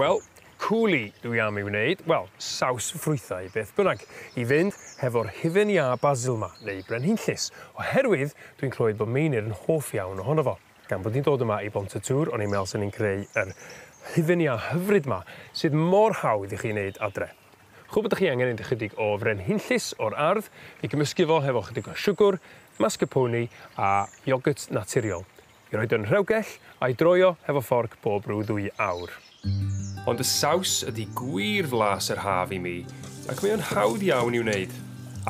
Wel, coulis dwi am ei wneud, wel, saws ffrwythau, beth bynnag, i fynd hefo'r hufen iâ basil 'ma, neu brenhinllys, oherwydd dwi'n clywed bod Meinir yn hoff iawn ohono fo. Gan bod ni'n dod yma i Bont y Tŵr, o'n i'n meddwl 'sen ni'n creu yr hufen iâ hyfryd 'ma, sydd mor hawdd i chi wneud adre. Ch'w'o' be' 'dach chi angen, ychydig o frenhinllys o'r ardd, fi gymysgu fo hefo chydig o siwgwr, mascarpone a iogyrt naturiol. I roid yn rhewgell, a'i droio hefo fforc bob rhyw ddwy awr. Ond y saws ydi gwir flas yr haf i mi, ac mae o'n hawdd iawn i'w wneud.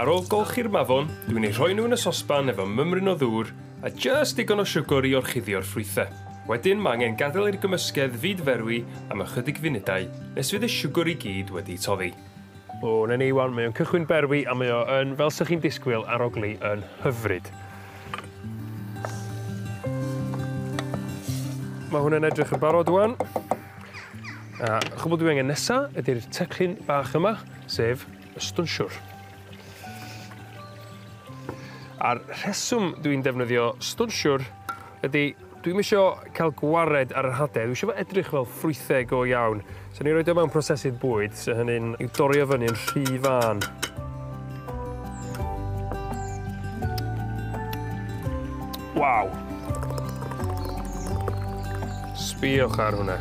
Ar ôl golchi'r mafon, dwi'n eu rhoi nhw yn y sosban efo mymryn o ddŵr a jyst digon o siwgr i orchuddio'r ffrwythe. Wedyn ma' angen gadael i'r gymysgedd fyd-ferwi am ychydig funudau nes fydd y siwgr i gyd wedi toddi. O 'na ni 'wan mae o'n cychwyn berwi a mae o yn fel 'sych chi'n disgwyl arogli yn hyfryd. Ma' hwn yn edrych yn barod ŵan. A chwbwl dwi angen nesa ydi'r teclyn bach yma, sef y stunsiwr. A'r rheswm dwi'n defnyddio stunsiwr Ydi, dwi'm isio ca'l gwared ar yr hade, dwi isio fo edrych fel ffrwytheg go iawn. So ni roid o mewn prosesydd bwyd, so hynny'n i'w dorri o fyny yn rhy fân. Waw! Sbïwch ar hwnna.